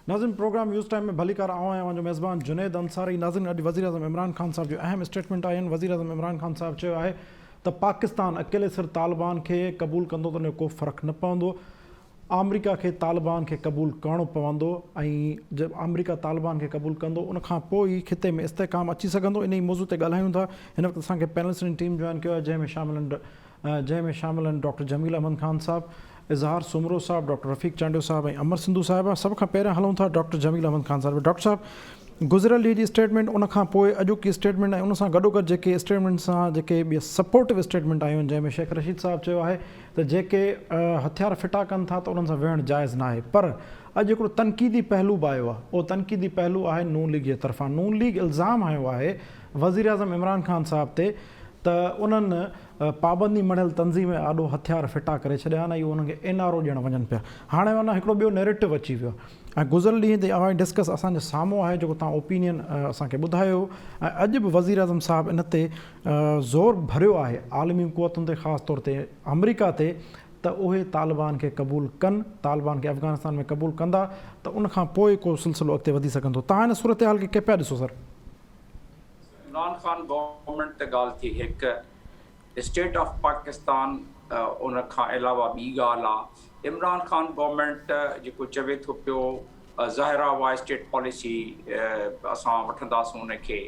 ناظرين programme news time ۾ ڀليڪار آئون آهيان اوهان جو ميزبان جنيد انصاري ناظرين اڄ وزيراعظم عمران خان صاحب جون اهم اسٽيٽمينٽ آيون وزيراعظم عمران خان صاحب چيو آهي ته پاڪستان اڪيلي سر طالبان کي قبول ڪندو ته ان جو ڪو فرق نه پوندو آمريڪا کي طالبان کي قبول ڪرڻو پوندو ۽ جب آمريڪا طالبان کي قبول ڪندو ان کان پوء ئي خطي ۾ استحڪام اچي سگهندو انهي موضوع تي ڳالهايون ٿا هن وقت اسان کي پينلسٽ جي ٽيم جوائن ڪيو آهي جنهن ۾ شامل آهن جنهن ۾ شامل آهن ڊاڪٽر جميل احمد خان صاحب، اظهار سومرو صاحب، ڊاڪٽر رفيق چانڊيو صاحب ۽ امر سنڌو صاحبه. سڀ کان پهريان هلون ٿا ڊاڪٽر جميل احمد خان صاحب ڏي. ڊاڪٽر صاحب گذريل ڏينهن جي اسٽيٽمينٽ ان کان پوء اڄوڪي اسٽيٽمينٽ ۽ ان سان گڏوگڏ جيڪي اسٽيٽمينٽ سان جيڪي ٻيا سپورٽو اسٽيٽمينٽ آيون جنهن ۾ شيخ رشيد صاحب چيو آهي ته جيڪي هٿيار ڦٽا ڪن ٿا ته انهن سان ويهڻ جائز ناهي پر اڄ هڪڙو تنقيدي پهلو به آيو آهي اهو تنقيدي پهلو آهي نون ليگ جي طرفان نون ليگ الزام هنيو آهي وزيراعظم عمران خان صاحب تي ته انهن پابندي مڙهيل تنظيمن آڏو هٿيار ڦٽا ڪري ڇڏيا آهن ۽ اهي انهن کي اين آر او ڏيڻ وڃن پيا. هاڻي معنيٰ هڪڙو ٻيو نيريٽو اچي ويو آهي ۽ گذريل ڏينهن تي عوامي ڊسڪس اسان جي سامهون آهي جيڪو توهان اوپينين اسان کي ٻڌايو هو ۽ اڄ به وزيراعظم صاحب ان تي زور ڀريو آهي عالمي قوتن تي خاص طور تي آمريڪا تي ته اهي طالبان کي قبول ڪن طالبان کي افغانستان ۾ قبول ڪندا ته ان کان پوء ڪو سلسلو اڳتي وڌي سگهندو توهان ان صورتحال کي ڪئين پيا ڏسو سر؟ عمران خان گورنمينٽ تي ڳالهه ٿي هڪ اسٽيٽ آف پاڪستان ان کان علاوه ٻي ڳالهه آهي عمران خان گورنمينٽ جيڪو چوي ٿو پيو ظاهر آهي اها اسٽيٽ پاليسي اسان وٺنداسون ان کي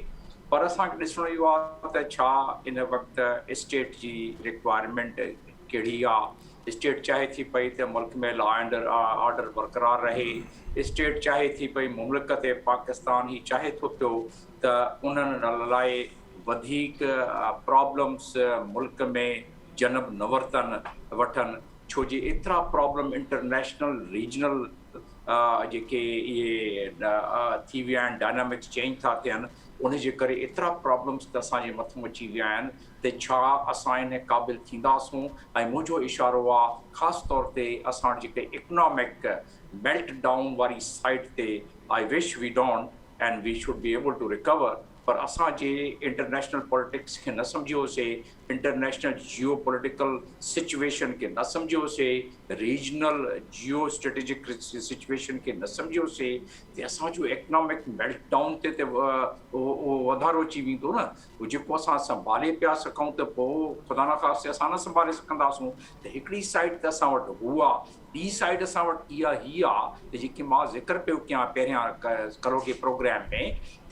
پر اسانکي ڏسڻو اهو آهي ته ڇا ان وقت اسٽيٽ جي ريڪوائرمينٽ ڪهڙي آ؟ اسٽيٽ چاهي ٿي پئي ته ملڪ ۾ لا اينڊ آرڊر برقرار رهي، اسٽيٽ چاهي ٿي پئي مملڪت پاڪستان هي چاهي ٿو پيو ته انهن لاء وڌيڪ پرابلمس ملڪ ۾ جنم نه ورتن وٺن ڇو جي ايترا پرابلم انٽرنيشنل ريجنل جيڪي اهي ٿي ويا آهن ڊائنامڪس چينج ٿا ٿين ان جي ڪري ايترا پرابلمس ته اسان جي مٿو اچي ويا آهن تي ڇا اسان انهي قابل ٿينداسون ۽ منهنجو اشارو آ خاص طور تي اسان جيڪي اڪنامڪ ميلٽ ڊائون واري سائيڊ تي I wish we don't and we should be able to recover پر اسان جي انٽرنيشنل پوليٽڪس کي نه سمجهيو سي انٽرنيشنل جيو پوليٽيڪل سچويشن کي نه سمجهيو سي ريجنل جيو اسٽريٽجڪ سچويشن کي نه سمجهيو سي تي اسان جو اڪنامڪ ميلٽ ڊائون تي تي وڌارو اچي ويندو نه پوء جيڪو اسان سنڀالي پيا سگهون ته پوء خدا نخواسته اسان نه سنڀالي سگهنداسون ته هڪڙي سائيڊ ته اسان وٽ هو آ ٻي سائيڊ اسان وٽ اها هي آ ته جيڪي مان ذڪر پيو ڪيان پهريان ڪروگي پروگرام ۾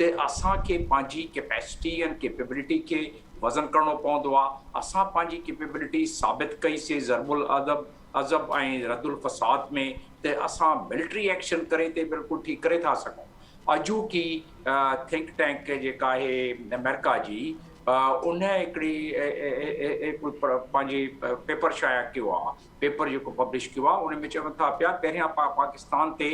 ته اسان کي پنهنجي ڪيپيسٽي ۽ ڪيپيبلٽي کي وزن ڪرڻو پوندو آ اسان پنهنجي ڪيپيبلٽي ثابت ڪئي سي ضرب العضب عضب ۽ رد الفساد ۾ ته اسان ملٽري ايڪشن ڪري تي بلڪل ٺيڪ ڪري ٿا سگهون اڄوڪي ٿنڪ ٽينڪ جيڪا آهي امريڪا جي ان هڪڙي پنهنجي پيپر شايع ڪيو آهي پيپر جيڪو پبلش ڪيو آهي ان ۾ چون ٿا پيا پهريان پاڪستان تي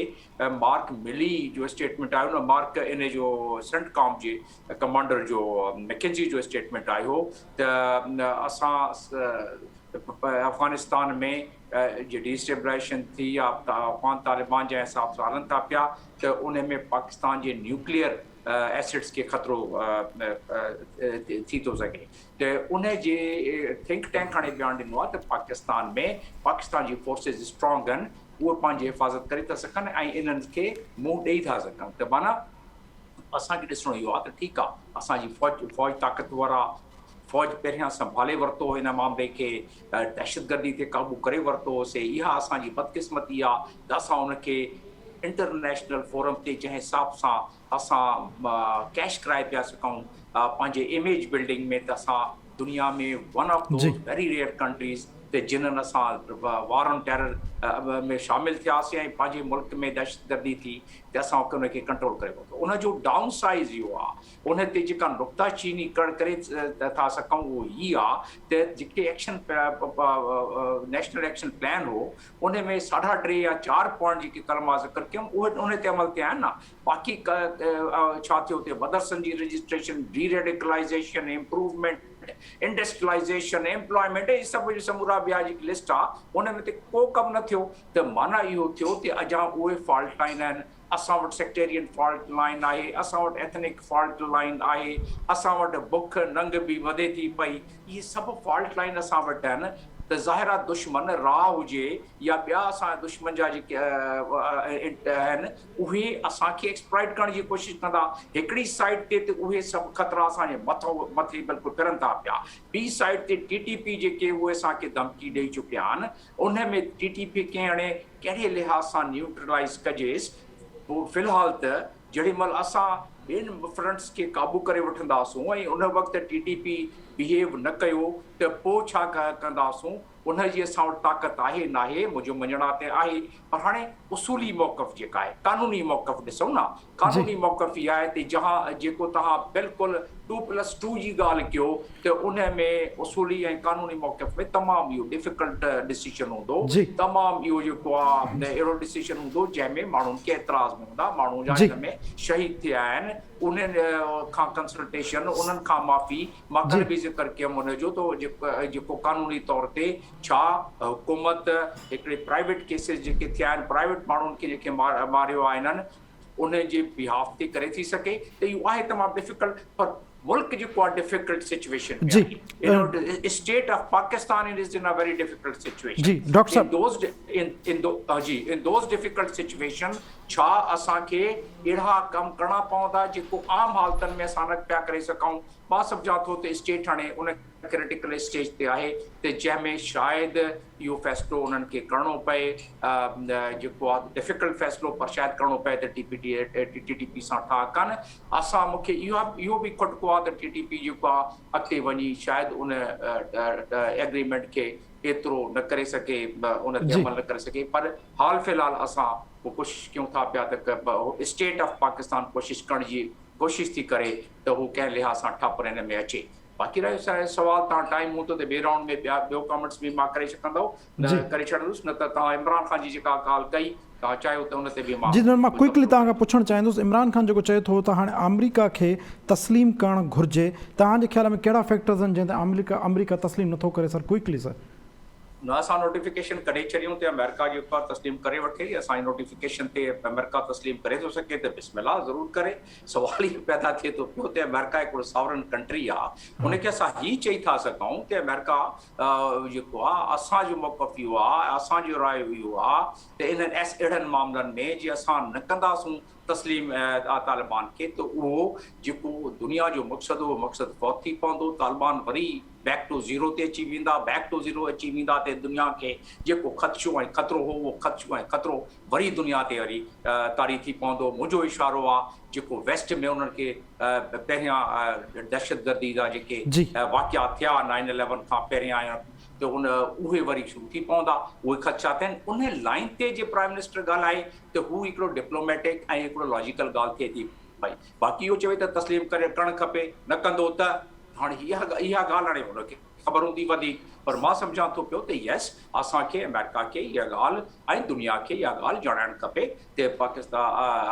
مارڪ ملي جو اسٽيٽمينٽ آيو نه مارڪ ان جو سنٽ ڪام جي ڪمانڊر جو مڪينزي جو اسٽيٽمينٽ آيو ته اسان افغانستان ۾ جي ڊي اسٽيبلائيشن ٿي يا افغان طالبان جنهن حساب سان هلن ٿا پيا ته ان ۾ پاڪستان جي نيوڪليئر ايسٽس کي خطرو ٿي ٿو سگهي ته ان جي ٿنڪ ٽينڪ هاڻي بيان ڏنو آهي ته پاڪستان ۾ پاڪستان جي فورسز اسٽرانگ آهن اهي پنهنجي حفاظت ڪري ٿا سگهن ۽ انهن کي منهن ڏئي ٿا سگهن ته معنيٰ اسان کي ڏسڻو اهو آهي ته ٺيڪ آهي اسان جي فوج فوج طاقتور آهي فوج پهريان سنڀالي ورتو هن معاملي کي دهشتگردي تي قابو ڪري ورتو سي اها اسان جي بدقسمتي آ ته اسان ان کي انٽرنيشنل فورم تي جنهن حساب سان اسان ڪيش ڪرائي پيا سگهون پنهنجي اميج بلڊنگ ۾ ته اسان دنيا ۾ one of those very rare countries ته جنهن اسان وار آن ٽيرر ۾ شامل ٿياسين ۽ پنهنجي ملڪ ۾ دهشتگردي ٿي ته اسان ان کي ڪنٽرول ڪري ورتو ان جو ڊائون سائيز اهو آ ان تي جيڪا نڪته چيني ڪڙ ڪري ٿا سگهون اهو هي آ ته جيڪي ايڪشن نيشنل ايڪشن پلان هو ان ۾ ساڍا ٽي يا چار پوائنٽ جيڪي ڪل مان ذڪر ڪيم اهي ان تي عمل ٿيا آهن نه باقي ڇا ٿيو اتي مدرسن جي registration deradicalization improvement industrialization employment هي سڀ جو سمورا ٻيا جيڪي لسٽ آ ان ۾ ته ڪو ڪم نه ٿيو ته معنيٰ اهو ٿيو ته اجان اهي فالٽ آهن اسان وٽ سيڪٽيرين فالٽ لائين آهي، اسان وٽ ايٿنڪ فالٽ لائين آهي، اسان وٽ بک ننگ به وڌي ٿي پئي، اهي سڀ فالٽ لائين اسان وٽ آهن ته ظاهر آهي دشمن را هجي يا ٻيا اسان جا دشمن جا جيڪي آهن اهي اسان کي ايڪسپلائيٽ ڪرڻ جي ڪوشش ڪندا، هڪڙي سائيڊ تي ته اهي سڀ خطرا اسان جي مٿي بلڪل ڦرن ٿا پيا، ٻي سائيڊ تي ٽي ٽي پي جيڪي اهي اسان کي ڌمڪي ڏئي چڪيا آهن، ان ۾ ٽي ٽي پي ڪنهن اڻي ڪهڙي لحاظ سان نيوٽرلائيز ڪجيس، پوء في الحال ته جهڙي مهل اسان ٻين فرنٽس کي قابو ڪري وٺنداسون ۽ ان وقت ٽي ٽي پي بيهيو نه ڪيو ته پوء ڇا ڪنداسون، ان جي اسان وٽ طاقت آهي ناهي، منهنجو مڃڻ آ ته آهي پر هاڻي اصولي موقف جيڪا آهي قانوني موقف ڏسون نه قانوني موقف هي آهي تي جهان جيڪو توهان بلڪل ٽو پلس ٽو جي ڳالهه ڪيو ته ان ۾ اصولي ۽ قانوني موقف ۾ تمام اهو ڊفيڪلٽ ڊسيشن هوندو تمام اهو جيڪو آ اهڙو ڊسيشن هوندو جنهن ۾ ماڻهن کي اعتراض به هوندا ماڻهو جا هن ۾ شهيد ٿيا آهن انهن کان ڪنسلٽيشن انهن کان معافي ماڪل به ذڪر ڪيم ان جو ته جيڪو قانوني طور تي ڇا حڪومت هڪڙي پرائيويٽ ڪيسز جيڪي ٿيا آهن پرائيويٽ ماڻهن کي جيڪي ماريو آهي انهن ان جي بيهاف تي ڪري ٿي سگهي ته اهو آهي تمام ڊفڪلٽ پر ملڪ جيڪو آهي ڊفڪلٽ سچويشن ۾ آهي state of Pakistan and is in a very difficult situation جي ڊاڪٽر صاحب دوز جي ان دوز ڊفڪلٽ سچويشن ڇا اسان کي اهڙا ڪم ڪرڻا پوندا جيڪو عام حالتن ۾ اسان نه پيا ڪري سگهون مان سمجهان ٿو ته اسٽيٽ هاڻي ان ڪرٽيڪل اسٽيج تي آهي ته جنهن ۾ شايد اهو فيصلو انهن کي ڪرڻو پئي جيڪو آ ڊفيڪلٽ فيصلو پر شايد ڪرڻو پئي ته T P T T P سان ٺاهه ڪن اسان مون کي اهو اهو به کٽڪو آ ته ٽي ٽي پي جيڪو آ اڳتي وڃي شايد ان ايگريمينٽ کي ايترو نه ڪري سگهي ان تي عمل نه ڪري سگهي پر حال في الحال اسان پوء ڪوشش ڪيون ٿا پيا ته اسٽيٽ آف پاڪستان ڪوشش ڪرڻ جي ڪوشش ٿي ڪري ته هو ڪنهن لحاظ سان ٺپ هن ۾ اچي باقي رهيو سائين سوال تان ٽائيم هوندو ته ٻئي رائونڊ ۾ ٻيا ٻيو ڪامينٽس به مان ڪري سگهندو ته ڪري ڇڏندس نه ته تان عمران خان جي جيڪا ڳالهه ڪئي تان چاهيو ته ان تي به مان جي جنرل مان ڪوئڪلي تان کان پڇڻ چاهيندس عمران خان جيڪو چئي ٿو ته هاڻي آمريڪا کي تسليم ڪرڻ گهرجي تان جي خيال ۾ ڪهڙا فيڪٽرز آهن جنهن تي آمريڪا آمريڪا تسليم نٿو ڪري سر ڪوئڪلي سر. نه اسان نوٽيفڪيشن ڪڍي ڇڏيون ته آمريڪا جيڪو آهي تسليم ڪري وٺي اسان جي نوٽيفڪيشن تي آمريڪا تسليم ڪري ٿو سگهي ته بسم الله ضرور ڪري سوال هي پيدا ٿئي ٿو پيو ته آمريڪا هڪڙو ساورن ڪنٽري آ ان کي اسان هي چئي ٿا سگهون ته آمريڪا جيڪو آ اسان جو موقف اهو آ اسان جو راء اهو آ ته انهن ايس اهڙن معاملن ۾ جي اسان نه ڪنداسون تسليم طالبان کي ته اهو جيڪو دنيا جو مقصد هو مقصد فوت ٿي پوندو طالبان وري بيڪ ٽو زيرو تي اچي ويندا، Back to Zero، اچي ويندا تي دنيا کي جيڪو خدشو ۽ خطرو هو اهو خدشو ۽ خطرو وري دنيا تي وري طاري ٿي پوندو، منهنجو اشارو آ جيڪو ويسٽ ۾ انهن کي پهريان دهشتگردي جا جيڪي جي. واقعا ٿيا نائن اليون کان پهريان ته ان اهي وري شروع ٿي پوندا اهي خدشا ٿين انهي لائين تي جي پرائيم منسٽر ڳالهائي ته هو هڪڙو ڊپلوميٽڪ ۽ هڪڙو لاجيڪل ڳالهه ٿئي ٿي پئي. باقي اهو چوي ته تسليم ڪري ڪرڻ کپي، نه ڪندو ته؟ هاڻي هي اها اها ڳالهه هاڻي هن کي خبر هوندي وڌيڪ، پر مان سمجهان ٿو پيو ته يس اسان کي آمريڪا کي اها ڳالهه ۽ دنيا کي اها ڳالهه ڄاڻائڻ کپي ته پاڪستا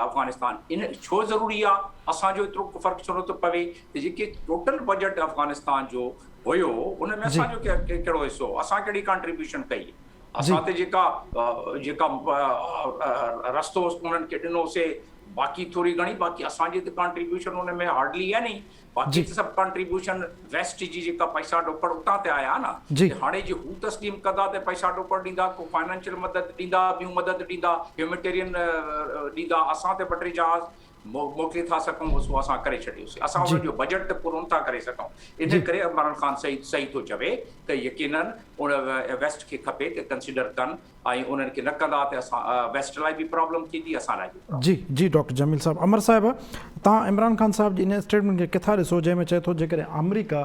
افغانستان ان ڇو ضروري آ، اسان جو ايترو فرق ڇو نٿو پوي ته جيڪي ٽوٽل بجيٽ افغانستان جو هيو ان ۾ جي. اسان جو ڪهڙو حصو هو، اسان ڪهڙي ڪانٽريبيوشن ڪئي. اسان تي جيڪا جيڪا رستو انهن کي ڏنو سي باقي ٿوري گهڻي باقي اسان جي ته ڪانٽريبيوشن ان ۾ هارڊلي يعني ئي باقي ته سڀ ڪانٽريبيوشن ويسٽ جي جيڪا پئسا ڏوڪڙ اتان تي آيا نه ته هاڻي جي هو تسليم ڪندا ته پئسا ڏوڪڙ ڏيندا ڪو فائنانشل مدد ڏيندا ٻيون مدد ڏيندا هيوميٽيرين ڏيندا اسان تي ٻه ٽي جهاز موڪلي ٿا سگهون هو سو اسان ڪري ڇڏيوسين اسان انهن جو بجيٽ ته پورو نٿا ڪري سگهون ان ڪري عمران خان سعيد صحيح ٿو چوي ته يقينن ان ويسٽ کي کپي ته ڪنسيڊر ڪن ۽ انهن کي نه ڪندا ته اسان ويسٽ لاء به پرابلم ٿيندي اسان لاء به پرابلم جي جي ڊاڪٽر جميل صاحب عمر صاحب توهان عمران خان صاحب جي ان اسٽيٽمينٽ کي ڪٿا ڏسو جنهن ۾ چئي ٿو جيڪڏهن آمريڪا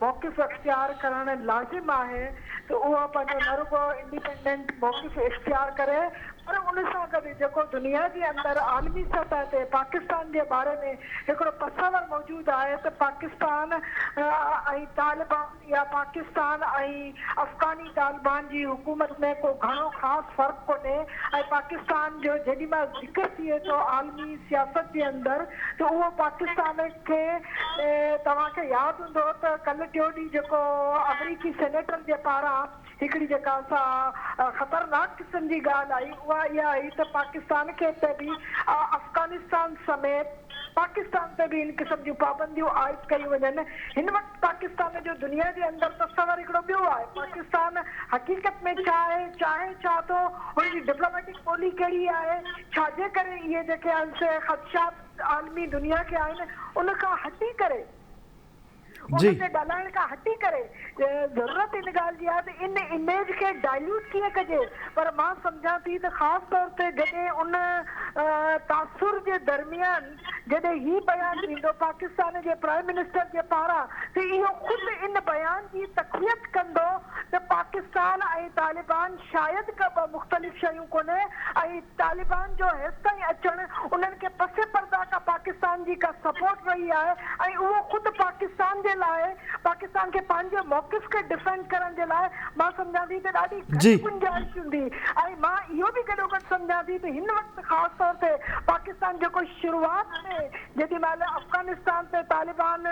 موقف اختيار ڪرڻ لازم آهي ته اها پنهنجو نه رڳو انڊيپنڊنٽ موقف اختيار ڪري پر ان سان گڏ جيڪو دنيا جي اندر عالمي سطح تي پاڪستان جي باري ۾ هڪڙو تصور موجود آهي ته پاڪستان ۽ طالبان يا پاڪستان ۽ افغاني طالبان جي حڪومت ۾ ڪو گهڻو خاص فرق ڪونهي ۽ پاڪستان جو جيڏي مهل ذڪر ٿئي ٿو عالمي سياست جي اندر ته اهو پاڪستان کي توهان کي ياد هوندو ته ڪلهه ٽيون ڏينهن جيڪو آمريڪي سينيٽر جي پاران هڪڙي جيڪا سا خطرناڪ قسم جي ڳالهه آئي اها اها آئي ته پاڪستان کي تي به افغانستان سميت پاڪستان تي به ان قسم جون پابنديون عائد ڪيون وڃن هن وقت پاڪستان جو دنيا جي اندر تصور هڪڙو ٻيو آهي پاڪستان حقيقت ۾ ڇا آهي چاهي ڇا ٿو ان جي ڊپلوميٽڪ ٻولي ڪهڙي آهي ڇاجي ڪري اهي جيڪي آهن سي خدشات عالمي دنيا کي آهن ان کان هٽي ڪري ان تي ڳالهائڻ کان هٽي ڪري ضرورت ان ڳالهه جي آهي ته ان اميج کي ڊائليوٽ ڪيئن ڪجي پر مان سمجهان ٿي ته خاص طور تي جڏهن ان تاثر جي درميان جڏهن هي بيان ايندو پاڪستان جي پرائم منسٽر جي پاران ته اهو خود ان بيان جي تقويت ڪندو ته پاڪستان ۽ طالبان شايد ڪا ٻه مختلف شيون ڪونهي ۽ طالبان جو هيستائين اچڻ انهن کي پس پرده ڪا پاڪستان جي ڪا سپورٽ رهي آهي ۽ اهو خود پاڪستان جي لاء پاڪستان کي پنهنجي موقف کي ڊفينڊ ڪرڻ جي لاء مان سمجهان ٿي ته ڏاڍي جي. گهٽ گنجائش هوندي ۽ مان اهو به گڏوگڏ سمجهان ٿي ته هن وقت خاص طور تي پاڪستان جيڪو شروعات ۾ جيڏي مهل افغانستان تي طالبان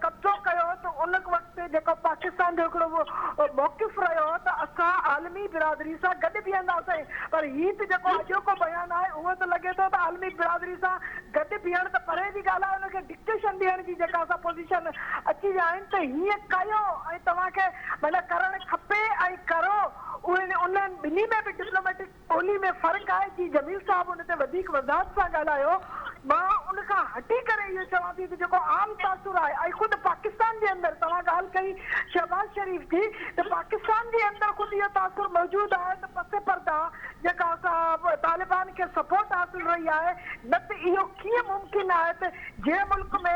قبضو ڪيو ته ان وقت جيڪو پاڪستان جو هڪڙو موقف رهيو ته اسان عالمي برادري سان گڏ بيهنداسين پر هي ته جيڪو اڄوڪو بيان آهي اهو ته لڳي ٿو ته عالمي برادري سان گڏ بيهڻ ته پري جي ڳالهه آهي ان کي ڊڪٽيشن ڏيڻ جي جيڪا اسان پوزيشن اچي ويا آهن ته هيئن ڪيو ۽ توهان کي معنيٰ ڪرڻ کپي ۽ ڪرو ان ٻنهي ۾ به ڊپلوميٽڪ ٻولي ۾ فرق آهي جي جميل صاحب ان تي وڌيڪ وضاحت سان ڳالهايو مان ان کان هٽي ڪري اهو چوان ٿي ته جيڪو عام تاثر آهي ۽ خود پاڪستان جي اندر توهان ڳالهه ڪئي شهباز شريف جي ته پاڪستان جي اندر خود اهو تاثر موجود آهي ته پس پرده جيڪا اسان طالبان کي سپورٽ حاصل رهي آهي نه ته اهو ڪيئن ممڪن آهي ته جنهن ملڪ ۾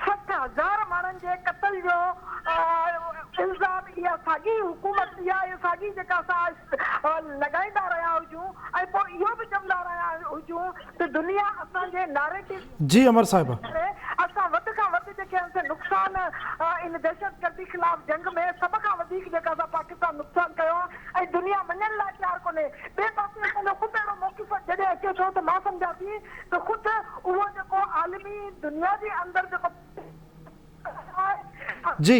سٺ هزار ماڻهن جي قتل جو الزام اها ساڳي حڪومت اها ساڳي جيڪا اسان لڳائيندا رهيا هجون ۽ پوء اهو به چوندا رهيا هجون ته دنيا اسان جي ناريٽو جي امر صاحب. جي ڪري اسان وڌ کان وڌ جيڪي هنس نقصان ان دهشتگردي خلاف جنگ ۾ سڀ کان وڌيڪ جيڪا اسان پاڪستان نقصان ڪيو آهي ۽ دنيا مڃڻ لاء تيار ڪونهي ٻئي پاسي اسان جو خود اهڙو موقف جڏهن اچي ٿو ته مان سمجهان ٿي ته خود اهو جيڪو عالمي دنيا جي اندر جيڪو جي.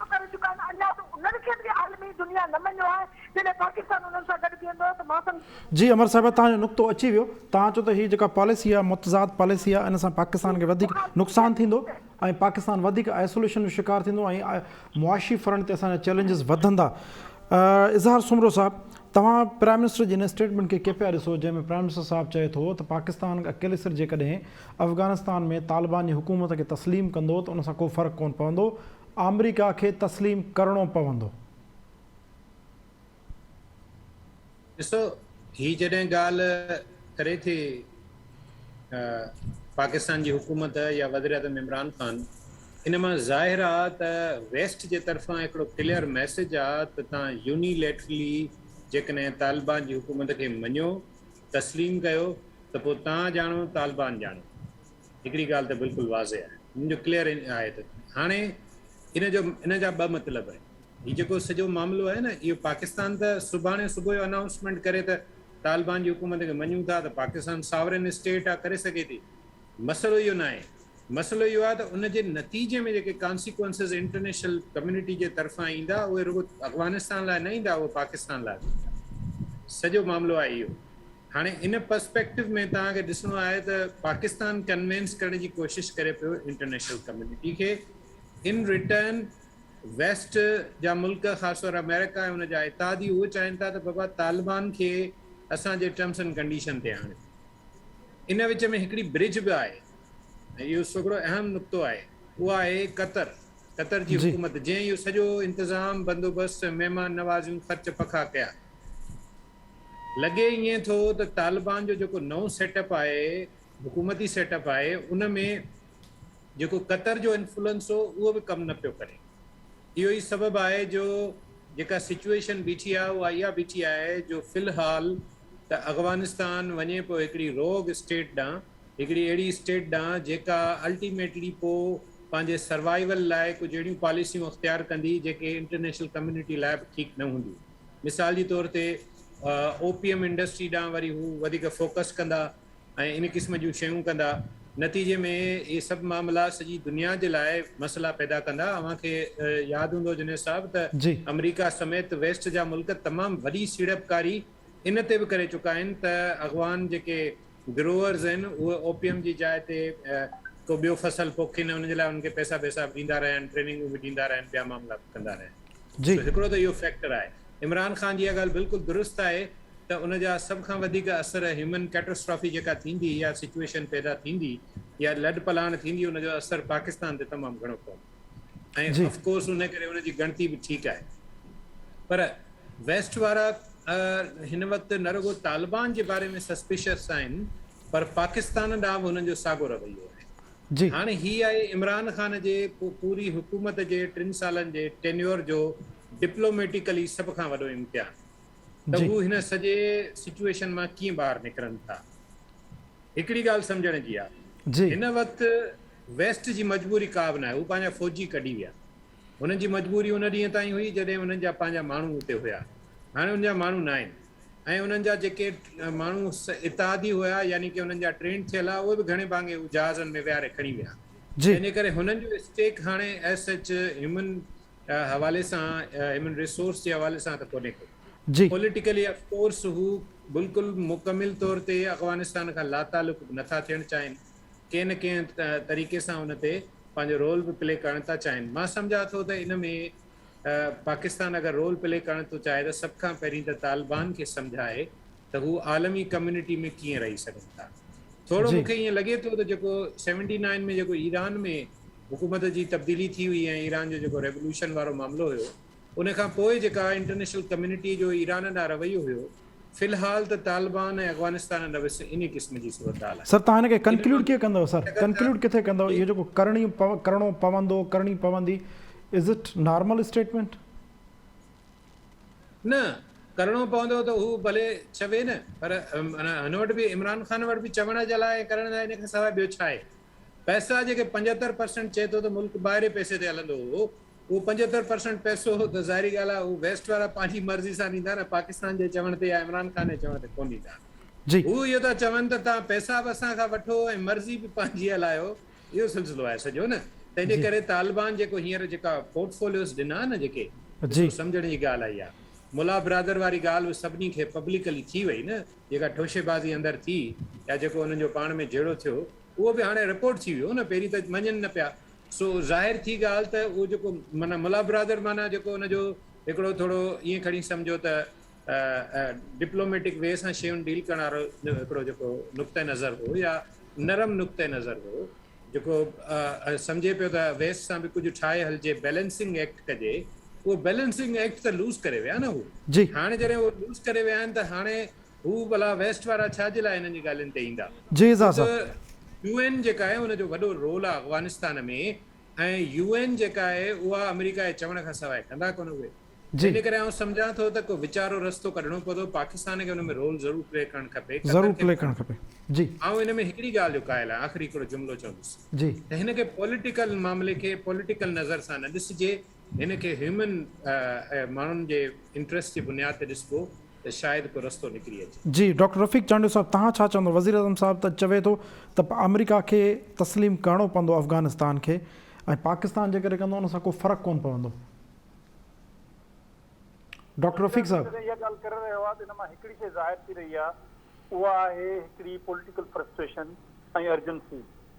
ڪم ڪري چڪا آهن اڃا ته انهن کي به عالمي دنيا نه مڃيو آهي جڏهن پاڪستان انهن سان گڏ بيهندو ته مان سمجهان ٿو. جي عمر صاحب توهان جو نقطو اچي ويو توهان چئو ته هي جيڪا پاليسي آهي متضاد پاليسي آهي ان سان پاڪستان کي وڌيڪ نقصان ٿيندو ۽ پاڪستان وڌيڪ آئسوليشن جو شڪار ٿيندو ۽ معاشي فرنٽ تي اسان جا چئلينجز وڌندا اظهار سومرو صاحب توهان پرائم منسٽر جي ان اسٽيٽمينٽ کي ڪي پيا ڏسو جنهن ۾ پرائم منسٽر صاحب چئي ٿو ته پاڪستان اڪيلي سر جيڪڏهن افغانستان ۾ طالبان جي حڪومت کي تسليم ڪندو ته ان سان ڪو فرق ڪونه پوندو، آمريڪا کي تسليم ڪرڻو پوندو. ڏسو هي جڏهن ڳالهه ڪري ٿي ته پاڪستان جي حڪومت يا وزيراعظم عمران خان ان مان ظاهر آ ته ويسٽ جي طرفان هڪڙو ڪليئر ميسيج آ ته تان يوني ليٽرلي جيڪڏهن طالبان جي حڪومت کي مڃو تسليم ڪيو ته پوء تان ڄاڻو طالبان ڄاڻو. هڪڙي ڳالهه ته بلڪل واضح آهي. ان جو ڪليئر آهي ته هاڻي ان جو ان جا ٻه مطلب آهن. هي جيڪو سڄو معاملو آهي نه اهو پاڪستان ته سڀاڻي صبح جو انائونسمينٽ ڪري ته طالبان جي حڪومت کي مڃون ٿا ته پاڪستان ساورين اسٽيٽ آهي ڪري سگهي ٿي. مسئلو اهو ناهي، مسئلو اهو آهي ته ان جي نتيجي ۾ جيڪي ڪانسيڪوئنسز انٽرنيشنل ڪميونٽي جي طرفان ايندا اهي رڳو افغانستان لاء نه ايندا اهي پاڪستان لاء به ايندا سڄو معاملو آهي اهو هاڻي ان پرسپيڪٽو ۾ توهان کي ڏسڻو آهي ته پاڪستان ڪنوينس ڪرڻ جي ڪوشش ڪري پيو انٽرنيشنل ڪميونٽي کي ان ريٽرن ويسٽ جا ملڪ خاص طور آمريڪا ۽ ان جا اتحادي اهو چاهين ٿا ته بابا طالبان کي اسان جي ٽرمس اينڊ ڪنڊيشن تي آڻيو ان وچ ۾ هڪڙي برج به آهي ۽ اهو سگهڙو اهم نقطو آهي اها آهي قطر قطر جي جي حڪومت جنهن اهو سڄو انتظام بندوبست مهمان نوازيون خرچ پکا ڪيا لڳي ائين ٿو ته طالبان جو جيڪو نئون سيٽ اپ آهي حڪومتي سيٽ اپ آهي ان ۾ جيڪو قطر جو انفلوئنس هو اهو به ڪم نه پيو ڪري. اهو ئي سبب آهي جو جيڪا سچوئيشن بيٺي آهي اها اها بيٺي آهي جو في الحال ته اغوانستان وڃي پيو هڪڙي روگ اسٽيٽ ڏانهن، هڪڙي اهڙي اسٽيٽ ڏانهن جيڪا الٽيميٽلي پو پنهنجي سروائيول لاء ڪجهه اهڙيون پاليسيون اختيار ڪندي جيڪي انٽرنيشنل ڪميونٽي لاء به ٺيڪ نه هونديون. مثال جي طور تي اوپيم انڊسٽري ڏانهن وري هو وڌيڪ فوڪس ڪندا. ۽ ان قسم جون شيون ڪندا. نتيجي ۾ اهي سڀ معاملا سڄي دنيا جي لاء مسئلا پيدا ڪندا. اوهان کي ياد هوندو جنيد صاحب ته جي. آمريڪا سميت ويسٽ جا ملڪ تمام وڏي سيڙپڪاري ان تي به ڪري چڪا آهن ته اغوان جيڪي گروورز آهن اهي اوپيم جي جاء تي ڪو ٻيو فصل پوکين ۽ ان جي لاء انهن کي پئسا بئسا به ڏيندا رهيا آهن، ٽريننگون به ڏيندا رهيا آهن، ٻيا معاملا به ڪندا رهيا آهن. جي. سو هڪڙو ته اهو فيڪٽر آهي. عمران خان جي اها ڳالهه بلڪل درست آهي ته ان جا سڀ کان وڌيڪ اثر هيومن ڪيٽاسٽرافي جيڪا ٿيندي يا سچوئيشن پيدا ٿيندي يا لڏ پلاڻ ٿيندي ان جو اثر پاڪستان تي تمام گهڻو پوندو ۽ اف ڪورس ان ڪري ان جي ڳڻتي به ٺيڪ آهي پر ويسٽ وارا هن وقت نه رڳو طالبان جي باري ۾ سسپيشس آهن پر پاڪستان ڏانهن به انهن جو ساڳو رويو آهي جي. هاڻي هي آهي عمران خان جي پوري حڪومت جي ٽن سالن جي ٽينيور جو ڊپلوميٽيڪلي سڀ کان وڏو امتحان ته جي. هو هن سڄي سچوئيشن مان ڪيئن ٻاهر نڪرن ٿا. هڪڙي ڳالهه سمجهڻ جي آهي جي. هن وقت ويسٽ جي مجبوري ڪا به ناهي هو پنهنجا فوجي ڪڍي ويا هنن جي مجبوري ان ڏينهن تائين هئي جڏهن هنن جا پنهنجا ماڻهو اتي هيا هاڻي هن جا ماڻهو ناهن. ۽ انهن جا جيڪي ماڻهو اتحادي هيا يعني ڪي انهن جا ٽرينڊ ٿيل ها اهي به گهڻي ڀاڱي هو جهازن ۾ ويهاري کڻي ويا جي. تنهنجي ڪري هنن جو اسٽيڪ هاڻي ايس سچ هيومن حوالي سان هيومن ريسورس جي حوالي سان ته ڪونهي ڪو جي. پوليٽيڪلي اف ڪورس هو بلڪل مڪمل طور تي افغانستان کان لاتعلق به نٿا ٿيڻ چاهين ڪنهن نه ڪنهن طريقي سان ان تي پنهنجو رول به پلي ڪرڻ ٿا چاهين مان سمجهان ٿو ته ان ۾ ته پاڪستان اگر رول پلي ڪرڻ ٿو چاهي ته سڀ کان پهرين ته طالبان کي سمجهائي ته هو عالمي ڪميونٽي ۾ ڪيئن رهي سگهن ٿا. ٿورو مون کي ائين لڳي ٿو ته جيڪو سيونٽي نائن ۾ جيڪو ايران ۾ حڪومت جي تبديلي ٿي هئي ۽ ايران جو جيڪو ريولوشن وارو معاملو هيو ان کان پوء جيڪا انٽرنيشنل ڪميونٽي جو ايران ڏانهن رويو هيو في الحال ته طالبان ۽ افغانستان نوس انهي قسم جي صورتحال آهي. سر توهان هن کي ڪنڪليوڊ ڪيئن ڪندؤ سر ڪنڪليوڊ ڪٿي ڪندؤ اهو جيڪو ڪرڻي ڪرڻو پوندو ڪرڻي پوندي از اٽ نارمل اسٽيٽمينٽ. نه ڪرڻو پوندو ته هو ڀلي چوي نه پر هن وٽ به عمران خان وٽ به چوڻ جي لاء ۽ ڪرڻ لاء ان کان سواء ٻيو ڇا آهي پئسا جيڪي پنجهتر پرسنٽ چئي ٿو ته ملڪ ٻاهرين پئسي تي هلندو هو اهو پنجهتر پرسنٽ پئسو هو ته ظاهري ڳالهه آهي اهو ويسٽ وارا پنهنجي مرضي سان ڏيندا نه پاڪستان جي چوڻ تي يا عمران خان جي چوڻ تي ڪونه ڏيندا جي. هو اهو ٿا چون ته توهان پئسا به اسان کان وٺو ۽ مرضي به پنهنجي هلايو اهو سلسلو آهي سڄو نه تنهن جي جي. ڪري طالبان جيڪو هينئر جيڪا پورٽ فوليوز ڏنا نه جيڪي جي. ڏسو سمجهڻ جي ڳالهه آهي اها ملا برادر واري ڳالهه به سڀني کي پبلڪلي ٿي وئي نه جيڪا ٺوشي بازي اندر ٿي يا جيڪو انهن جو پاڻ ۾ جهيڙو ٿيو اهو به هاڻي رپورٽ ٿي ويو نه پهرين ته مڃن نه پيا سو ظاهر ٿي ڳالهه ته اهو جيڪو معنيٰ ملا برادر معنيٰ جيڪو ان جو هڪڙو ٿورو ائين کڻي سمجهو ته ڊپلوميٽڪ وي سان شيون ڊيل ڪرڻ وارو هڪڙو جيڪو نقطه نظر هو يا نرم نقطه نظر هو جيڪو سمجهي پيو ته ويس سان به ڪجهه ٺاهي هلجي بيلنسنگ ايڪٽ ڪجي اهو بيلنسنگ ايڪٽ ته لوز ڪري ويا نه هو هاڻي جڏهن اهو لوز ڪري ويا آهن ته هاڻي هو ڀلا ويسٽ وارا ڇا جي لاء هنن جي ڳالهين تي ايندا. خود يو اين جيڪا آهي ان جو وڏو رول آهي افغانستان ۾ ۽ يو اين جيڪا آهي اها آمريڪا جي چوڻ کان سواء ڪندا ڪونه اهي ان ڪري آئون سمجهان ٿو ته ڪو وچارو رستو ڪڍڻو پوندو پاڪستان کي ان ۾ رول ضرور پلي ڪرڻ کپي قطر کي به ڪرڻ کپي آئون ان ۾ هڪڙي ڳالهه جو قائل آهيان آخري هڪڙو جملو چوندس ته هن کي پوليٽيڪل معاملي کي پوليٽيڪل نظر سان نه ڏسجي هن کي هيومن ۽ ماڻهن جي انٽريسٽ جي بنياد تي ڏسبو ته شايد ڪو رستو نڪري اچي. جي ڊاڪٽر رفيق چانڊيو صاحب توهان ڇا چوندو وزيراعظم صاحب ته چوي ٿو ته آمريڪا کي تسليم ڪرڻو پوندو افغانستان کي ۽ پاڪستان جيڪڏهن ڪندو ان سان ڪو فرق ڪون پوندو ڊاڪٽر رفيق صاحب. جڏهن اها ڳالهه ڪري رهيو آهي ته ان مان هڪڙي شيء ظاهر ٿي رهي آهي اها آهي هڪڙي پوليٽيڪل فرسٽريشن ۽ ارجنسي.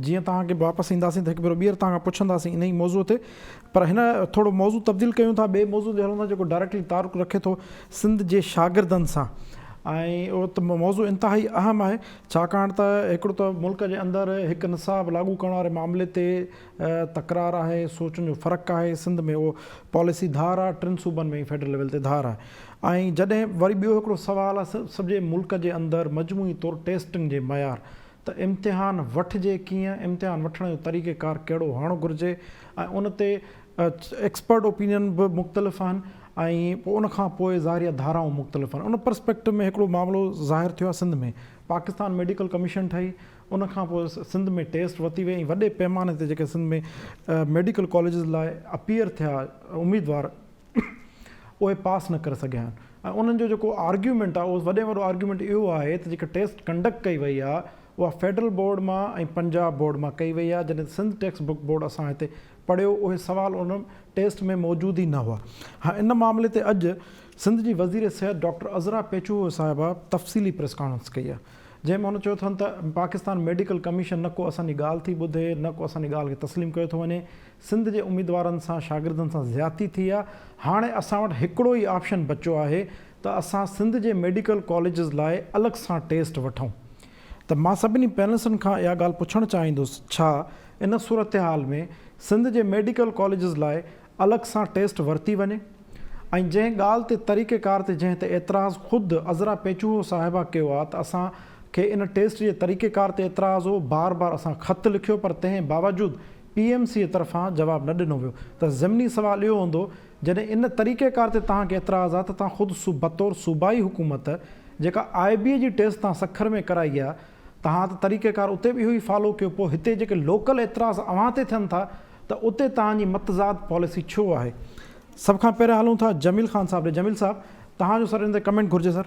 جيئن توهان کي واپس اينداسين ته هڪ ڀيرو ٻيهر توهان کان پڇنداسين انهي موضوع تي پر هن ٿورو موضوع تبديل ڪيون ٿا ٻئي موضوع تي هلون ٿا جيڪو ڊائريڪٽلي تعلق رکي ٿو سنڌ جي شاگردن سان ۽ موضوع انتهائي اهم آهي ڇاڪاڻ ته هڪڙو ته ملڪ جي اندر هڪ نصاب لاڳو ڪرڻ واري معاملي تي تڪرار آهي سوچن جو فرق آهي سنڌ ۾ اهو پاليسي ڌار آهي ٽن صوبن ۾ فيڊرل ليول تي ڌار آهي ۽ جڏهن وري ٻيو هڪڙو سوال آهي سڄي ملڪ جي اندر مجموعي طور ٽيسٽنگ جي معيار ته امتحان وٺجي ڪيئن، امتحان وٺڻ جو طريقه ڪار ڪهڙو هئڻ گهرجي ۽ ان تي ايڪسپرٽ اوپينين به مختلف آهن ۽ پوء ان کان پوء ظاهر آهي ڌارائون مختلف آهن. ان پرسپيڪٽو ۾ هڪڙو معاملو ظاهر ٿيو آهي سنڌ ۾ پاڪستان ميڊيڪل ڪميشن ٺهي ان کان پوء سنڌ ۾ ٽيسٽ ورتي وئي ۽ وڏي پيماني تي جيڪي سنڌ ۾ ميڊيڪل ڪاليجز لاء اپيئر ٿيا اميدوار اهي پاس نه ڪري سگهيا آهن ۽ انهن جو جيڪو آرگيومينٽ آهي اهو وڏي ۾ وڏو آرگيومينٽ اهو آهي ته جيڪا ٽيسٽ ڪنڊڪٽ ڪئي وئي آهي اها فيڊرل بورڊ مان ۽ پنجاب بورڊ مان ڪئي وئي آهي جڏهن ته سنڌ ٽيڪسٽ بڪ بورڊ اسان هتي پڙهيو اهي سوال ان ٽيسٽ ۾ موجود ئي نه هئا ۽ ان معاملي تي اڄ سنڌ جي وزير صحت ڊاڪٽر عذرا پيچوهو صاحبه تفصيلي پريس ڪانفرنس ڪئي آهي جنهن ۾ هن چيو اٿن ته پاڪستان ميڊيڪل ڪميشن نه ڪو اسان جي ڳالهه ٿي ٻڌي نه ڪو اسان جي ڳالهه کي تسليم ڪيو ٿو وڃي سنڌ جي اميدوارن سان شاگردن سان زيادتي ٿي آ هاڻي اسان وٽ هڪڙو ئي آپشن بچو آهي ته اسان سنڌ جي ميڊيڪل ڪاليجز لاء الڳ سان ٽيسٽ وٺون ته مان سڀني پينلسٽن کان اها ڳالهه پڇڻ چاهيندس ڇا ان صورتحال ۾ سنڌ جي ميڊيڪل ڪاليجز لاء الڳ سان ٽيسٽ ورتي وڃي ۽ جنهن ڳالهه تي طريقه ڪار تي جنهن تي اعتراض خود عذرا پيچوهو صاحبه ڪيو آ ته اسان کي ان ٽيسٽ جي طريقه ڪار تي اعتراض هو بار بار اسان خط لکيو پر تنهن باوجود پي ايم سي طرفان جواب نه ڏنو ويو ته ضمني سوال اهو هوندو جڏهن ان طريقيڪار تي توهان کي اعتراض آ ته توهان خود بطور صوبائي حڪومت جيڪا آء بي جي ٽيسٽ توهان سکر ۾ ڪرائي آ توهان ته طريقيڪار اتي به اهو ئي فالو ڪيو پوء هتي جيڪي لوڪل اعتراض اوهان تي ٿين ٿا ته اتي توهان جي متضاد پاليسي ڇو آهي. سڀ کان پهريان هلون ٿا جميل خان صاحب ڏي جميل صاحب توهان جو سر ان تي ڪمينٽ گهرجي سر.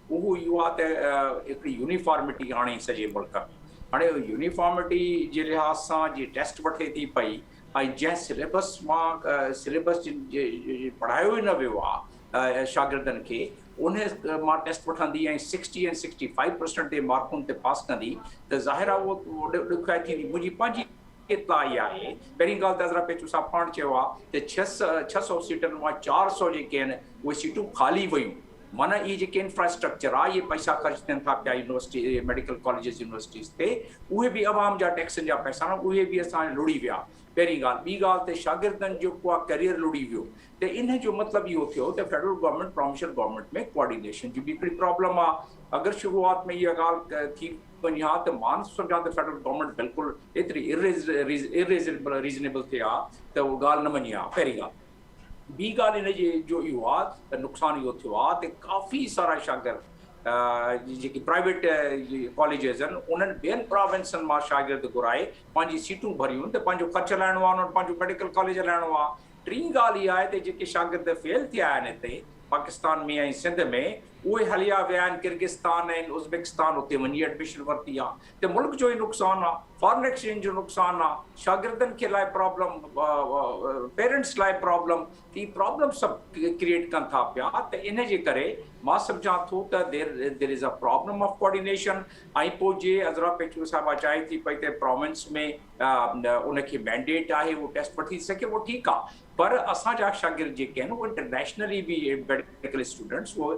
اهو اهو آهي ته هڪڙي يونيفارمٽي آڻي سڄي ملڪ ۾ هاڻي يونيفارمٽي جي لحاظ سان جي ٽيسٽ وٺي ٿي پئي ۽ جنهن سليبس مان سليبس پڙهايو ئي نه ويو آهي شاگردن کي ان مان ٽيسٽ وٺندي ۽ سڪسٽي ۽ سڪسٽي فائيو پرسنٽ تي مارڪن تي پاس ڪندي ته ظاهر آهي اهو ڏکيائي ٿيندي منهنجي پنهنجي اطلاعي آهي پهرين ڳالهه ته حضرت پيچو صاحب پاڻ چيو آهي ته ڇهه سؤ سيٽن مان چار سؤ جيڪي آهن اهي سيٽون خالي ويون معنيٰ اهي جيڪي انفراسٽرڪچر آ اهي پئسا خرچ ٿين ٿا پيا يونيورسٽي ميڊيڪل ڪاليجز يونيورسٽيز تي اهي به عوام جا ٽيڪسن جا پئسا آهن اهي به اسان جا لڙي ويا پهرين ڳالهه ٻي ڳالهه ته شاگردن جو ڪو آ ڪيريئر لڙي ويو ته ان جو مطلب اهو ٿيو ته federal government provincial government ۾ coordination جي به هڪڙي پرابلم آ اگر شروعات ۾ اها ڳالهه ٿي وڃي ها ته مان سمجهان ته فيڊرل گورنمينٽ بلڪل ايتري اريزنيبل ٿي ها ته اهو ڳالهه نه مڃي ها پهرين ڳالهه ٻي ڳالهه ان جي جو اهو آ ته نقصان اهو ٿيو آ ته ڪافي سارا شاگرد جيڪي پرائيويٽ ڪاليجز آهن انهن ٻين پراونسن مان شاگرد گهرائي پنهنجي سيٽون ڀريون ته پنهنجو خرچ هلائڻو آ انهن پنهنجو ميڊيڪل ڪاليج هلائڻو آ ٽين ڳالهه اها آهي ته جيڪي شاگرد فيل ٿيا آهن هتي پاڪستان ۾ ۽ سنڌ ۾ اهي هليا ويا آهن ڪرغستان ۽ ازبڪستان اتي وڃي ايڊميشن ورتي آ ته ملڪ جو ئي نقصان آ، فارن ايڪسچينج جو نقصان آ، شاگردن کي لاء پرابلم، پيرنٽس لاء پرابلم، ته هي پرابلم سڀ ڪريئيٽ ڪن ٿا پيا ته ان جي ڪري مان سمجهان ٿو ته there is a problem of coordination ۽ پوء جي عذرا پيچڪو صاحبه چاهي ٿي پئي ته پراونس ۾ ان کي مينڊيٽ آهي اهو ٽيسٽ وٺي ٿي سگهي اهو ٺيڪ آ پر اسان جا شاگرد جيڪي آهن اهي انٽرنيشنلي به ميڊيڪل اسٽوڊنٽس اهو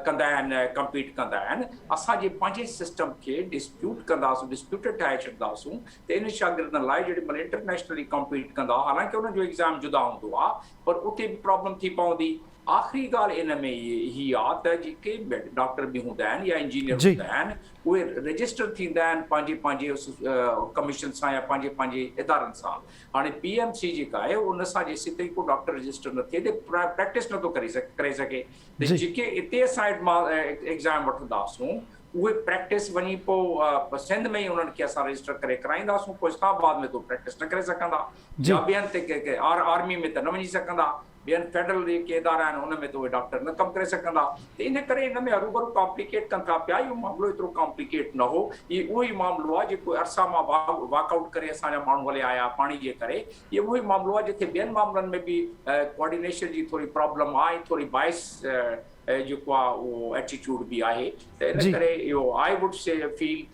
ڪندا آهن ڪمپيٽ ڪندا آهن اسان جي پنهنجي سسٽم کي ڊسپيوٽ ڪنداسون ڊسپيوٽيڊ ٺاهي ڇڏنداسون ته انهن شاگردن لاء جيڏي مهل انٽرنيشنلي ڪمپيٽ ڪندا حالانڪه انهن جو ايگزام جدا هوندو آهي پر اتي به پرابلم ٿي پوندي آخري ڳالهه ان ۾ هي آ ته جيڪي ڊاڪٽر به هوندا آهن يا انجينئر هوندا آهن اهي رجسٽر ٿيندا آهن پنهنجي پنهنجي ڪميشن سان يا پنهنجي پنهنجي ادارن سان هاڻي پي ايم سي جيڪا آهي اهو ان سان جيسين تائين ڪو ڊاڪٽر رجسٽر نه ٿئي پريڪٽس نه ٿو ڪري سگهي ته جيڪي اتي اسان ايگزام وٺنداسون اهي پريڪٽس وڃي پوء سنڌ ۾ ئي انهن کي اسان رجسٽر ڪري ڪرائينداسون پوء اسلام آباد ۾ تو پريڪٽس نه ڪري سگهندا يا ٻين تي آرمي ۾ ته نه وڃي سگهندا ٻين فيڊرل جيڪي ادارا آهن ان ۾ ته اهي ڊاڪٽر نه ڪم ڪري سگهندا ته ان ڪري ان ۾ هروڀرو ڪامپليڪيٽ ڪن ٿا پيا اهو معاملو ايترو ڪامپليڪيٽ نه هو هي اهو ئي معاملو آهي جيڪو ارسا مان واڪ آئوٽ ڪري اسان جا ماڻهو هليا آيا پاڻي جي ڪري هي اهو ئي معاملو آهي جتي ٻين معاملن ۾ به ڪوآرڊينيشن جي ٿوري پرابلم آهي ٿوري باعث جيڪو آهي اهو ايٽيٽيوڊ به آهي ته ان ڪري اهو آئي ووڊ سي فيل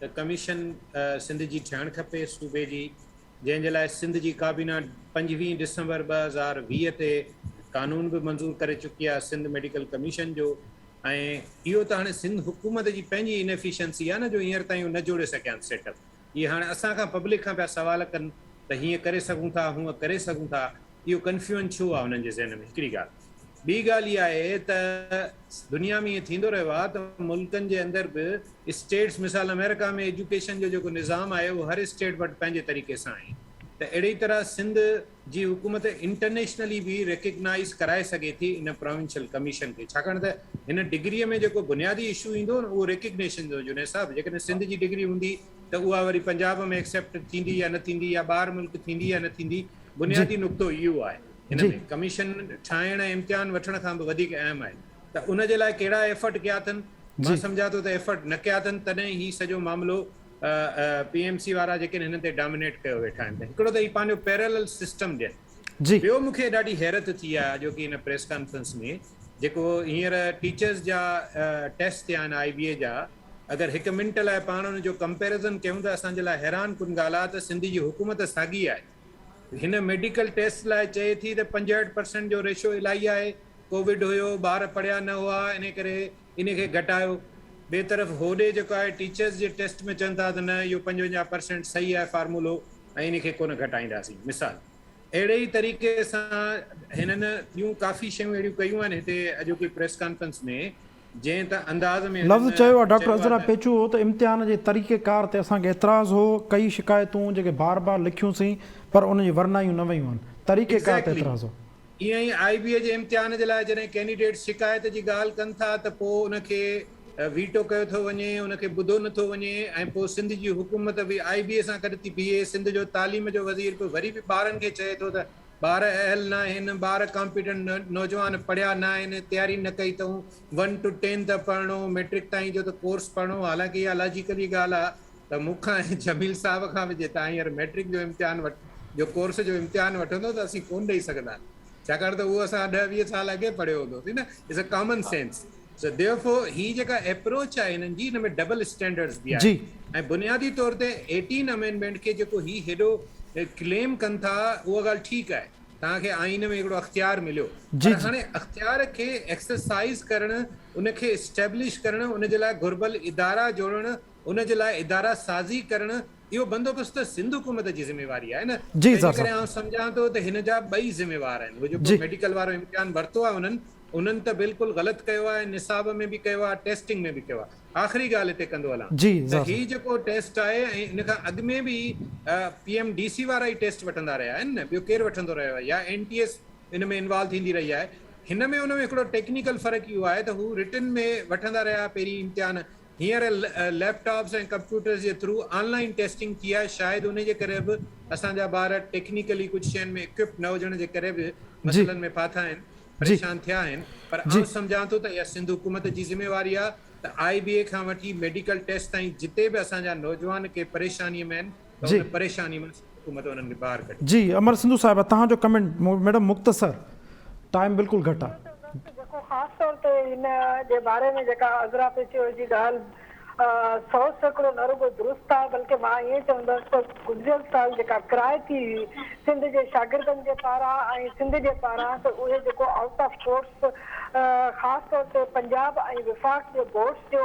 ته ڪميشن سنڌ جي ٺهڻ کپي صوبي جي جنهن جي لاء سنڌ جي ڪابينا پنجويهه ڊسمبر ٻه هزار ويهه تي قانون به منظور ڪري چڪي آهي سنڌ ميڊيڪل ڪميشن جو ۽ اهو ته هاڻي سنڌ حڪومت جي پنهنجي انيفيشنسي آهي نه جو هينئر تائين هو نه جوڙي سگهيا آهن سيٽ اپ اهي هاڻي اسان کان پبلڪ کان پيا سوال ڪن ته هيئن ڪري سگهون ٿا هونئن ڪري سگهون ٿا اهو ڪنفيوئن ڇو آهي هنن جي ذهن ۾ هڪڙي ڳالهه ٻي ڳالهه اها آهي ته دنيا ۾ ائين ٿيندو رهيو آهي ته ملڪن جي اندر به اسٽيٽس مثال آمريڪا ۾ ايجوڪيشن جو جيڪو نظام آهي اهو هر اسٽيٽ وٽ پنهنجي طريقي سان آهي ته اهڙي طرح سنڌ جي حڪومت انٽرنيشنلي به ريڪگنائز ڪرائي سگهي ٿي ان پراونشل ڪميشن کي ڇاڪاڻ ته هن ڊگري ۾ جيڪو بنيادي اشو ايندو نه اهو ريڪگنيشن جو جنيد صاحب جيڪڏهن سنڌ جي ڊگري هوندي ته اها وري پنجاب ۾ ايڪسيپٽ ٿيندي يا نه ٿيندي يا ٻاهر ملڪ ٿيندي يا نه ٿيندي بنيادي نقطو اهو آهي هن ۾ ڪميشن ٺاهڻ ۽ امتحان وٺڻ کان به وڌيڪ اهم آهي ته ان جي لاء ڪهڙا ايفرٽ ڪيا اٿن، مان سمجهان ٿو ته ايفرٽ نه ڪيا اٿن تڏهن هي سڄو معاملو پي ايم سي وارا جيڪي هنن تي ڊامينيٽ ڪيو ويٺا آهن ته هڪڙو ته هي پنهنجو پيرلل سسٽم ڏين ٻيو مون کي ڏاڍي حيرت ٿي آهي اڄوڪي هن پريس ڪانفرنس ۾ جيڪو هينئر ٽيچرز جا ٽيسٽ ٿيا آهن آئي بي اي جا اگر هڪ منٽ لاء پاڻ ان جو ڪمپيرزن ڪيون ته اسان جي لاء حيران ڪن ڳالهه آهي ته سنڌ جي حڪومت ساڳي آهي هن ميڊيڪل ٽيسٽ لاء چئي ٿي ته پنجهٺ پرسنٽ جو ريشو الائي آهي، ڪووڊ هيو، ٻار پڙهيا نه هئا انهي ڪري انهي کي گهٽايو. ٻي طرف هوڏي جيڪو آهي ٽيچرز جي ٽيسٽ ۾ چون ٿا ته نه اهو پنجونجاهه پرسنٽ صحيح آهي فارمولو ۽ انهي کي ڪونه گهٽائينداسين مثال اهڙي ئي طريقي سان هنن ٻيون ڪافي شيون اهڙيون ڪيون آهن هتي اڄوڪي پريس ڪانفرنس ۾ لفظ چيو آهي ڊاڪٽر عذرا پيچو هو ته امتحان جي طريقه ڪار تي اسان کي اعتراض هو ڪئي شڪايتون جيڪي بار بار لکيون سين پر ان جي ورنايون نه ويون آهن طريقه ڪار تي اعتراض هو. ائين ئي آئي بي اي جي امتحان جي لاء جڏهن ڪينڊيڊيٽس شڪايت جي ڳالهه ڪن ٿا ته پوء ان کي ويٽو ڪيو ٿو وڃي ان کي ٻڌو نه ٿو وڃي ۽ پوء سنڌ جي حڪومت به آئي بي اي سان گڏ ٿي بيهي سنڌ جو تعليم جو وزير به وري به ٻارن کي چئي ٿو ته ٻار اهل نه آهن، ٻار ڪامپيٽنٽ نه، نوجوان پڙهيا نه آهن، تياري نه ڪئي اٿئون، ون ٽو ٽين ته پڙهڻو، مئٽرڪ تائين جو ته ڪورس پڙهڻو، حالانڪه اها لاجيڪلي ڳالهه آ ته مون کان ۽ جميل صاحب کان به جي تان هينئر مئٽرڪ جو امتحان وٺ جو ڪورس جو امتحان وٺندو ته اسين ڪونه ڏئي سگهنداسين ڇاڪاڻ ته اهو اسان کان ڏهه ويهه سال اڳي پڙهيو هوندو سي نه it's a common sense. Sadif هي جيڪا ايپروچ آهي هنن جي ان ۾ ڊبل اسٽينڊرڊز به آهن ۽ بنيادي طور تي ايٽين امينڊمينٽ کي جيڪو هي هيڏو ڪليم ڪن ٿا اها ڳالهه ٺيڪ آهي توهان کي آئين ۾ هڪڙو اختيار مليو پر هاڻي اختيار کي ايڪسرسائز ڪرڻ ان کي اسٽيبلش ڪرڻ ان جي لاء گهربل ادارا جوڙڻ ان جي لاء ادارا سازي ڪرڻ اهو بندوبست ته سنڌ حڪومت جي ذميواري آهي نه جي تنهنجي ڪري آئون سمجهان ٿو ته هن جا ٻئي ذميوار آهن اهو جيڪو ميڊيڪل وارو امتحان ورتو آهي انهن انهن ته بلڪل غلط ڪيو آهي نصاب ۾ به ڪيو آهي ٽيسٽنگ ۾ به ڪيو آهي آخري ڳالهه هتي ڪندو هلان ته هي جيڪو ٽيسٽ آهي ۽ ان کان اڳ ۾ به پي ايم ڊي سي وارا ئي ٽيسٽ وٺندا رهيا آهن نه ٻيو ڪير وٺندو رهيو آهي يا اين ٽي ايس ان ۾ انوالو ٿيندي رهي آهي هن ۾ ان ۾ هڪڙو ٽيڪنيڪل فرق اهو آهي ته هو رٽن ۾ وٺندا رهيا پهرين امتحان هينئر ليپ ٽاپس ۽ ڪمپيوٽرز جي ٿرو آن لائين ٽيسٽنگ ٿي آهي، شايد انهي جي ڪري به اسان جا ٻار ٽيڪنيڪلي ڪجهه شين ۾ اڪوپڊ نه هجڻ جي ڪري به مسئلن ۾ ڦاٿا آهن، پريشان ٿيا آهن، پر آئون سمجهان ٿو ته اها سنڌ حڪومت جي ذميواري آهي ته آء بي اي کان وٺي ميڊيڪل ٽيسٽ تائين جتي به اسان جا نوجوان ڪنهن پريشاني ۾ آهن، ته ان پريشاني مان سنڌ حڪومت انهن کي ٻاهر ڪڍي. جي امر سنڌو صاحبه توهان جو ڪمينٽ ميڊم مختصر ٽائيم بلڪل گهٽ آ. جيڪو خاص طور تي ان جي باري ۾ جيڪا عذرا پيچويء جي ڳالهه سؤ سيڪڙو نه رڳو درست آهي بلڪه مان ائين چوندس ته گذريل سال جيڪا ڪرائي ٿي هئي سنڌ جي شاگردن جي پاران ۽ سنڌ جي پاران ته اهي جيڪو آئوٽ آف ڪورٽس خاص طور تي پنجاب ۽ وفاق جي بورڊس جو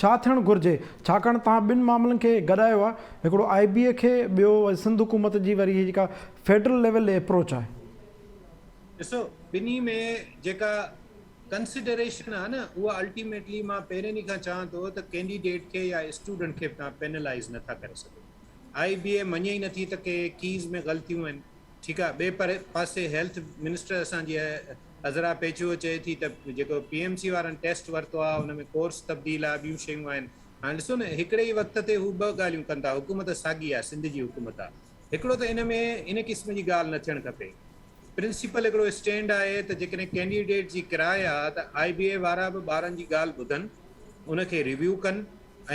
ڇا ٿيڻ گهرجي ڇاڪاڻ توهان ٻن معاملن کي گڏايو آهي هڪڙو آء بي اي کي ٻيو سنڌ حڪومت جي وري هي جيڪا فيڊرل ليول ڏي اپروچ آهي. ڏسو ٻنهي ۾ جيڪا ڪنسڊريشن آهي نه اها الٽيميٽلي مان پهرين ئي کان چوان ٿو ته ڪينڊيڊيٽ کي يا اسٽوڊنٽ کي توهان پينلائز نه ٿا ڪري سگهو آء بي اي مڃي ئي نٿي ته ڪي ڪيز ۾ غلطيون آهن ٺيڪ آهي ٻئي پاسي هيلٿ منسٽر اسان جي عذرا پيچوء چئي ٿي ته جيڪو پي ايم سي وارن ٽيسٽ ورتو آهي ان ۾ ڪورس تبديل آهي ٻيون شيون آهن هاڻ ڏسو نه هڪڙي ئي وقت تي هو ٻه ڳالهيون ڪن ٿا حڪومت ساڳي آهي سنڌ جي حڪومت آهي هڪڙو ته ان ۾ ان قسم جي ڳالهه نه ٿيڻ کپي پرنسپل هڪڙو اسٽينڊ آهي ته جيڪڏهن ڪينڊيڊيٽ جي ڪراء آهي ته آء بي اي وارا به ٻارن جي ڳالهه ٻڌن ان کي ريويو ڪن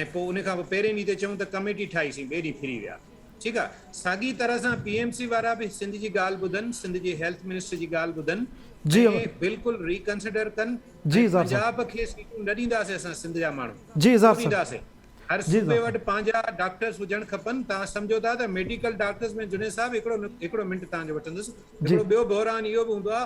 ۽ پوء ان کان پوء پهرين ڏينهن تي چئون ته ڪميٽي ٺاهيسين ٻئي ڏينهن ڦري ويا. ٺيڪ آ ساڳي طرح سان پي ايم سي وارا به سنڌ جي ڳالھ ٻڌن سنڌ جي هيلٿ منسٽر جي ڳالھ ٻڌن جي ۽ بلڪل ري ڪنسڊر ڪن جي ۽ اظهار صاحب پنجاب کي سيٽون نه ڏينداسين اسان سنڌ جا ماڻهو جي اظهار ڪو صاحب ڏينداسين هر جي صوبي اظهار وٽ صاحب پنهنجا ڊاڪٽرس هجڻ کپن توهان سمجهو ٿا ته ميڊيڪل ڊاڪٽرس ۾ جنيد صاحب هڪڙو هڪڙو منٽ توهان جو وٺندس جي هڪڙو ٻيو بحران اهو به هوندو آ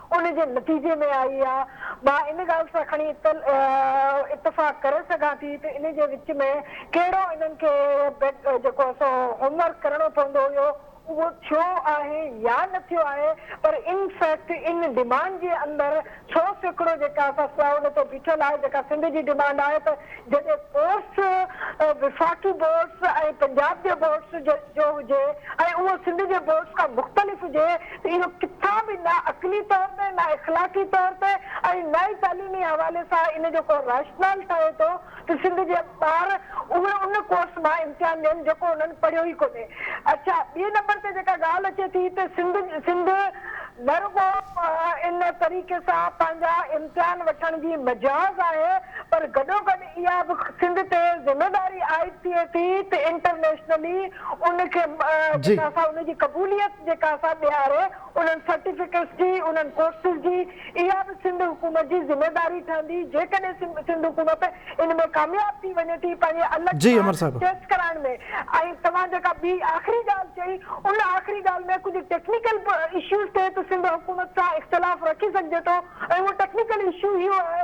ان جي نتيجي ۾ آئي آ. مان ان ڳالهه سان کڻي اتفاق ڪري سگهان ٿي ته ان جي وچ ۾ ڪهڙو انهن کي جيڪو آ سو هوم ورڪ ڪرڻو پوندو هيو اهو ٿيو آهي يا نه ٿيو آهي پر ان فيڪٽ ان ڊمانڊ جي اندر سو سيڪڙو جيڪا آ سا سئا ان تي بيٺل آهي جيڪا سنڌ جي ڊمانڊ آهي ته جڏهن ڪورس وفاقي بورڊس ۽ پنجاب جي بورڊس جو هجي ۽ اهو سنڌ جي بورڊس کان مختلف هجي اهو ڪٿان به نه عقلي طور تي، نه اخلاقي طور تي ۽ نه ئي تعليمي حوالي سان ان جو ڪو راشنال ٺهي ٿو ته سنڌ جا ٻار اهي ان ڪورس مان امتحان ڏين جيڪو انهن پڙهيو ئي ڪونهي. اڇا ٻئي نمبر تي جيڪا ڳالهه اچي ٿي ته سنڌ سنڌ نه رڳو ان طريقي سان پنهنجا امتحان وٺڻ جي مجاز آهي پر گڏوگڏ اها به سنڌ تي ذميواري عائد ٿئي ٿي ته انٽرنيشنلي ان کي جي. جيڪا سا ان جي قبوليت جيڪا سا ڏياري انهن سرٽيفڪيٽس جي انهن ڪورسز جي اها به سنڌ حڪومت جي ذميواري ٺهندي جيڪڏهن سنڌ حڪومت ان ۾ ڪامياب ٿي وڃي ٿي پنهنجي الڳ جي سان امر صاحب. ٽيسٽ ڪرائڻ ۾ ۽ توهان جيڪا ٻي آخري ڳالهه چئي ان آخري ڳالهه ۾ ڪجهه ٽيڪنيڪل اشوز تي ته سنڌ حڪومت سان اختلاف رکي سگهجي ٿو ۽ اهو ٽيڪنيڪل اشو اهو آهي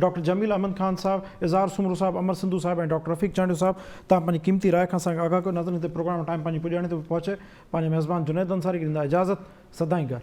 ڊاڪٽر جميل احمد خان صاحب، اظهار سومرو صاحب، امر سنڌو صاحب ۽ ڊاڪٽر رفيق چانڊيو صاحب تان پنهنجي قيمتي راء کان اسان کي آگاهه ڪيو ناظرين هتي پروگرام جو ٽائيم پنهنجي پڄاڻي تي پهچي پنهنجي ميزبان جنيد انصاري کي ڏيندا اجازت سدائين گهر.